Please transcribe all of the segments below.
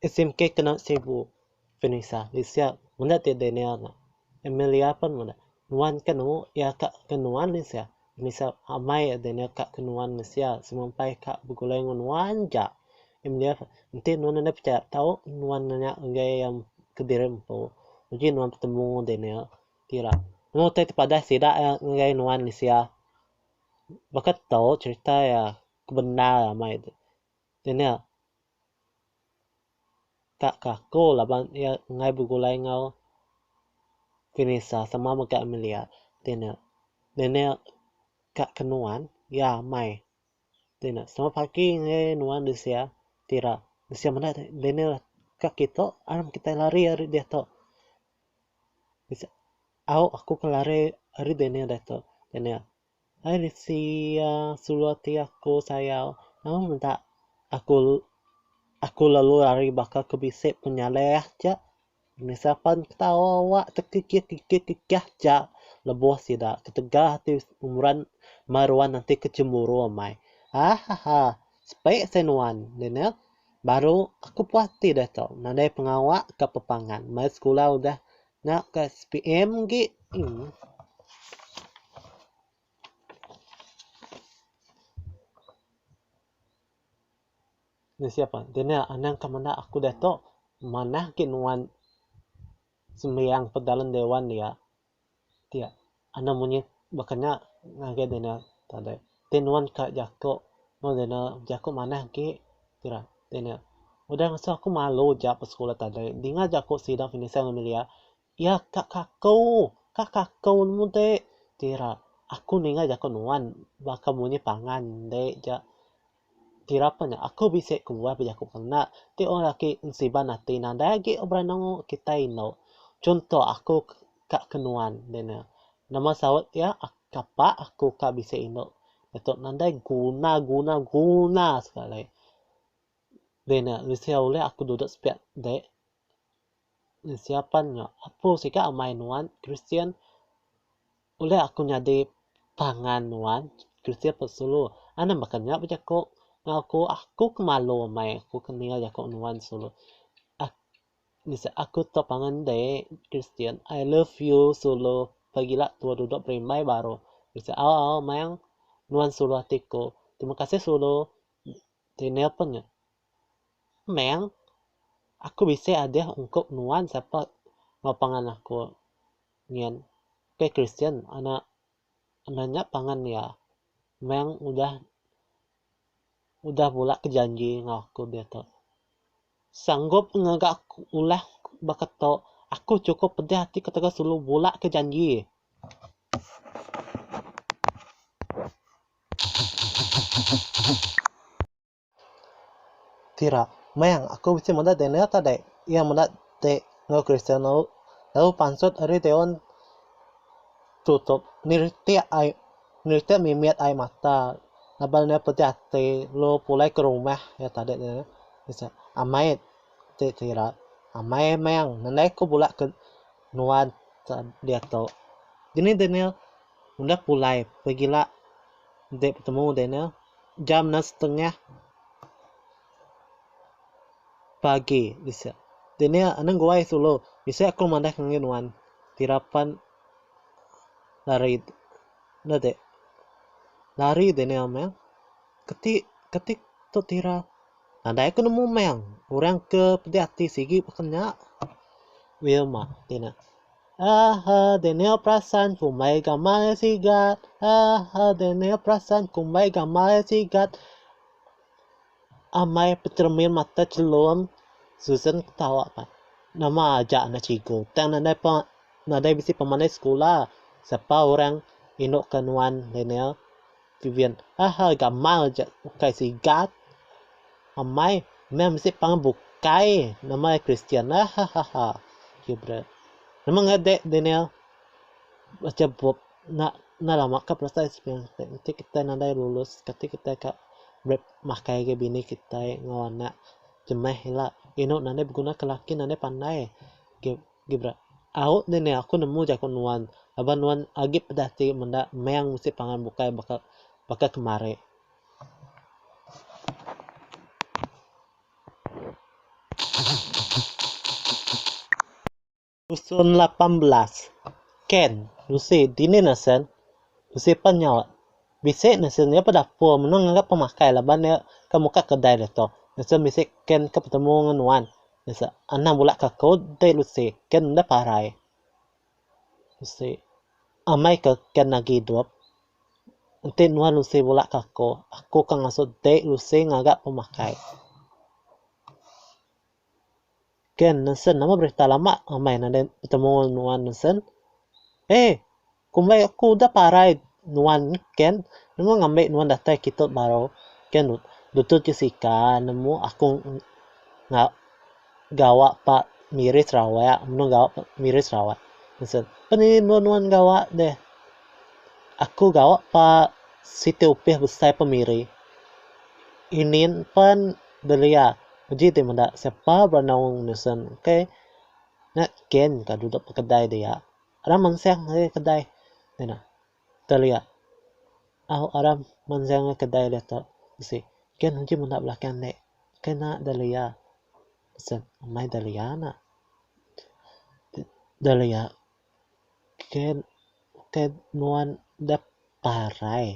SMK kena sibu Vanessa di sia meda ti Daniel nya. Amelia pun meda. Nuan ke nemu iya ka ke nuan di sia. Vanessa amai Daniel ka ke nuan di sia semua empai ka begulai enggau nuan ja. Amelia pun, enti nuan nadai pechaya tau nuan nanya enggai iya kediri empu. Uji nuan betemu enggau Daniel ti ira meh utai ti padah sida iya ngagai nuan di sia. Baka tau cherita iya ke bendar amai. Daniel. ka kaku laban iya enggai begulai enggau Vinisa sama mega Amelia ti ne nenek ka ke nuan iya amai ti ne sama pagi ngagai nuan disia ti ira disia menda Daniel ka kitu aram kitai lari ari diatu au aku ke lari ari Daniel diatu Daniel. Ai Lisia, sulu ati aku sayau, nama meda aku aku lalu lari baka ke bisi penyaleh aja. Nisa pan ketawa awak tekikikikikikikah aja lebuh sida ketegal ati meran mai ruan enti ke cemburu amai. Hahaha sepi seh nuan deh neh. Baru aku puas ati deh tu nadai pengawa ka pepangan mai sekula udah Nya ka SPM agi. Ni siapa enti nya anang ka menda aku diatu manah gin wan sembiang pedalun dewan dia. Ti. Anang munyi baka nya ngagai deh nya tadi. Ti nuan ka jaku meh deh nya bejaku manah agi ti ra deh nya. Udah ngasuh aku malu ja ke sekula tadi dinga jaku sida Vincent Amelia iya ka kaku, ka kaku nemu ti. Ti ra aku ninga jaku nuan baka munyi pangan ende ja Ti rapet nya aku bisi ku buah bejaku pengena ti orang laki ensiban ati nadai agi berenungu kitai indu. Chunto aku ka ke nuan deh ne. Nama saut iya kapa aku ka bisi indu diatu nadai guna guna guna sekali. Deh ne bisi ulih aku duduk sepiak deh Siapan nya apu siga amai nuan kristian ulih aku nyadi pangan nuan kristian ke sulu anang baka nya ba jaku ngau aku aku ke malu amai aku ke ninga jaku nuan sulu ak nise aku tau pangan inde kristian I love you sulu pagila tua dudok berimbai baru nise au au maioh nuan sulu ati ku terima kasih sulu ti nelpon nya. Meng, aku bisi adeh ungkup nuan sapa enggau pangan aku nyin. Pia Christian anak meh nya pangan iya. Meng udah udah bula ke janji enggau aku diatu. Sanggup ngaga aku ulah baka tu. Aku chukup pedih ati ketegal selalu bula ke janji. Tira, Meng, aku bisi meda Daniel ka deh? Iya meda deh enggau Kristiano lalu pansut ari Deon tutup niritik ai niritik mimit ai mata laban iya pedih ati lalu pulai ke rumah iya ka deh Daniel. Amai ti Tira, Amai Meng, nadai ku bela ke nuan diatu. Dini Daniel udah pulai pegila deh betemu Daniel. Jam enam setengah pagi bisi. Dini anang guai sulu. Bisi aku madah ke ngagai nuan. Tira pan lari enda ti. Lari dini amang. Keti keti tu tira. Nadai ku nemu mang. Orang ke pedi ati sigi baka nya. Wilma ti nah. Aaha Daniel perasan ku mbai gamal e sigat Aaha Daniel perasan ku mbai gamal e sigat Amai pecermin mata celum Susan ketawa pan Nama aja anak cikgu tang nadai pa nadai bisi pemandai sekula Sapa orang indu ke nuan Daniel. Ti Vian, Ha ha gamal aja ukai sigat. Amai meh mesti pangan bukai nama iya Kristian. Ha ha ha ha. Gilbert, Nama ngagai Daniel bacha bup enda enda lama ka proses semina ti. Enti kitai nadai lulus kati kitai ka ulih makai agi bini kitai enggau anak jemeh ila. Inu nadai beguna ka laki nadai pandai. Gil. Gibran, Au nih nih aku nemu jaku nuan laban nuan agi peda ti menda meng mesti pangan bukai baka baka kemari. Rusun lapan belas, Ken, Lucy dini nesen? Lucy pan nyaut, Bisi nesen iya ba dapur menua ngaga pemakai laban iya ka muka kedai ditu. Nesen bisi Ken ka betemu ngan nuan. Nisa anang bula ka ko dei lusi ke enda parai. Lusi amai ke ken agi idup. Enti nuan lusi bula ka ko, aku ka ngasu dei lusi ngaga pemakai. Ken nesen nama berita lama amai nadai betemu nuan nesen. Hei. Kumbai aku udah parai nuan ken nemu ngambi nuan datai kitu baru ken lutut jesika nemu aku nga gawa pa miri sarawak menu gawa pa miri sarawak seh pen nih melu nuan gawa deh aku gawa pa siti opis besai pa miri ini pen belia uji ti meda sepa beranak nisen okay nya ken ka duduk pa kedai dia. Aram mansang ngagai kedai deh nah. Telia. Au aram mansang ngagai kedai deh tu. Bisi. Kian nguji menda belakang nek. Kena Delia. Pesen. Amai Delia nak. Delia. Kian ukai nuan deh parai.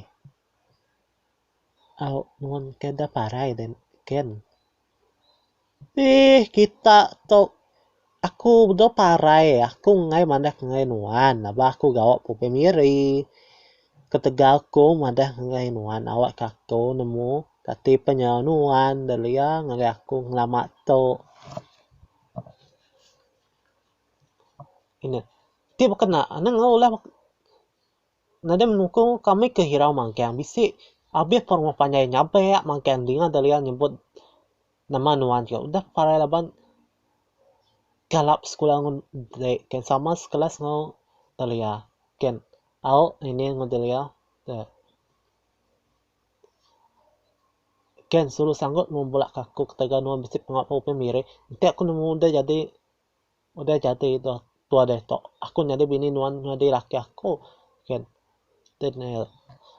Au nuan ukai deh parai deh kian. Eii kita tu aku bedau parai aku enggai madah ngai nuan aba aku gawa pebei miri ketegal aku madah ngai nuan awak ka aku nemu kati peh nyau nuan belia ngagai aku lama tu ina ti baka naan ulah. Nadai menungku kami ke hirau manggang bisi abih ke rumah panjai nyabek manggang dinga Dahlia nyebut nama nuan ke udah parai laban galap sekula ngan dek ke sama sekelas enggau Dahlia ke au ngini enggau Dahlia dek. Ke sulu sanggup nuan bulak ke aku ketegal nuan bisi pengawa ke upai miri enti aku nemu udah jadi. Udah jadi doh tua ditu, aku nyadi bini nuan nyadi laki aku. Kan. Deh neh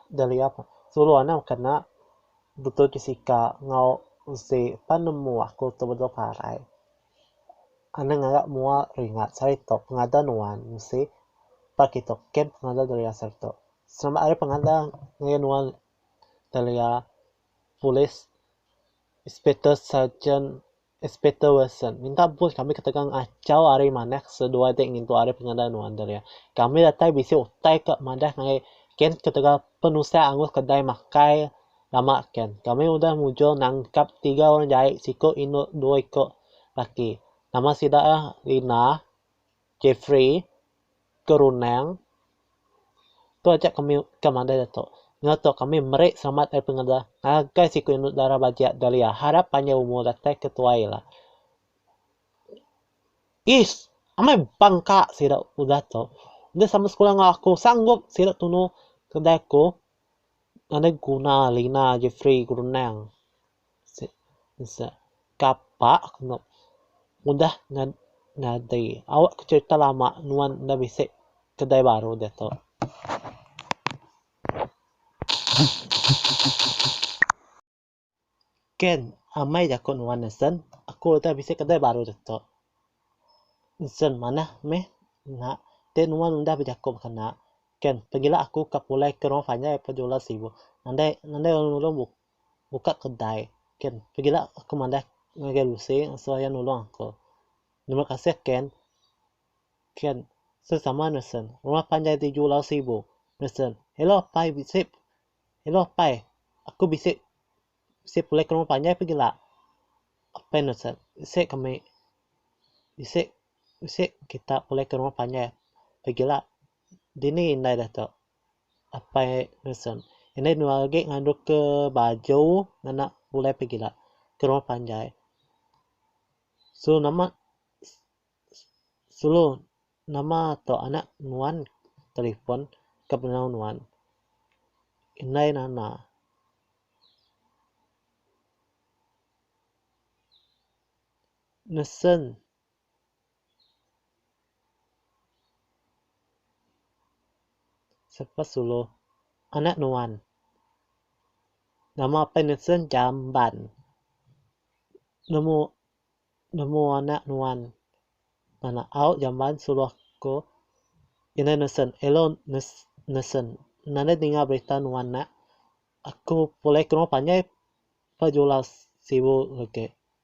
Dahlia pun. Sulu anak kena betul ti sika enggau usi pan nemu aku tu bedau parai. Anang ngagak mua ringat sehari tu pengadah nuan mesti pak itu ken pengadah Dahlia sehari tu. Selamat hari pengadah ngagai nuan Dahlia. Polis, inspektor, sarjan. Inspektor Wilson, minta ampun kami ketegal ngachau ari manah seduai ti ngintu ari pengendar nuan Delia. Kami datai bisi utai ke madah ngagai Ken ketegal penusah angus kedai makai lama Ken. Kami udah mujur nangkap tiga orang jai, siku indu dua iku laki. Nama sida Rina, Jeffrey, Kerunang tu aja kami ke mandai diatu enggau tu kami meri selamat ari pengelda ngagai siku indu dara Baja Dahlia harap panjai umur datai ke tuai ila. Ish amai bangka sida udah tu deh sama sekula enggau aku sanggup sida tunu kedai aku ngagai guna Lina Jefri Gerunang. Kapa kenu udah nyadi awak ke cerita lama nuan enda bisi kedai baru diatu. Ken amai jaku nuan nisen aku udah bisi kedai baru diatu. Nisen manah meh nya ti nuan udah bejaku baka nya. Ken pegila aku ka pulai ke rong panjai ke julan sibu. Andai andai orang nulung buka kedai ken pegila aku madah ngagai usi seraya nulung aku terima kasih ken ken sama sama nesen rumah panjai ti julau sibu nesen hello apai bisi hello apai aku bisi bisi pulai ke rumah panjai pegila apai nesen bisi kami bisi bisi kita pulai ke rumah panjai pegila Dini indai dato apai Nusun indai nuan agi ngandung ke baju ngena bulai pegila ke rumah panjai sulu nama sulu nama to anak nuan telefon ke penau nuan indai nana. Nusun. Sapa sulu anak nuan. Nama pen nesen jamban. Nemu nemu anak nuan anak au jamban sulu aku ina nesen elo nesen nadai ninga berita nuan nya aku pulai ke rumah panjai pa julas sibu legi.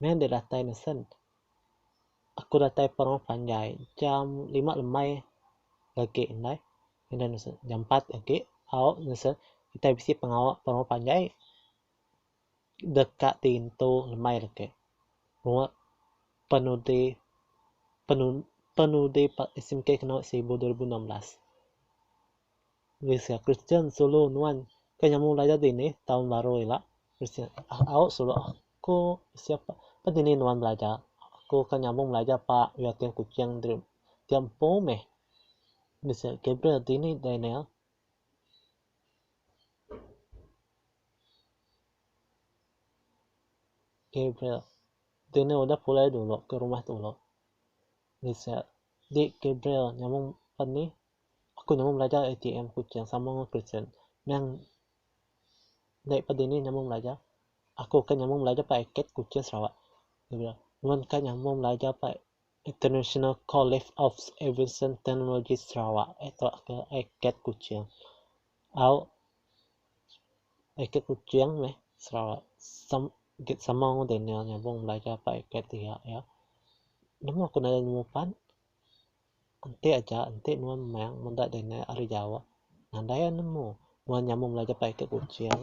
Meh enda datai nesen. Aku datai pa rumah panjai jam lima lemai agi ndai enda nesen jam empat agi au nesen kitai bisi pengawa pa rumah panjai deka ti ngintu lemai legi mua penudi penudi SMK keno seribu dua ribu enam belas. Gereja Kristian sulu nuan ke nyamu ulai jadi ni taun baru ila. Au sulu aku bisi pa pa dini nuan belajar. Aku ke nyambung belajar pa UiTM Kuching diri dia empu meh. Bisi Gabriel dini Daniel. Gabriel dini udah pulai dulu ke rumah dulu. Bisi di Gabriel nyambung pa ni. Aku nemu belajar ATM Kuching sama enggau Christian. Meh endai peda nih nyambung belajar. Aku ka nyambung belajar ba ACADE Kuching Sarawak. Nuan ka nyambung belajar ba International College of Aviation Technology Sarawak tok ke ACADE Kuching. Au ACADE Kuching meh Sarawak sama sama enggau Daniel nyambung belajar ba ACADE dia iya. Nemu aku nadai nemu pan. Enti aja, enti nuan meng meda dinga ari jawa. Nadai iya nemu. Nuan nyambung belajar pai ka Kuching.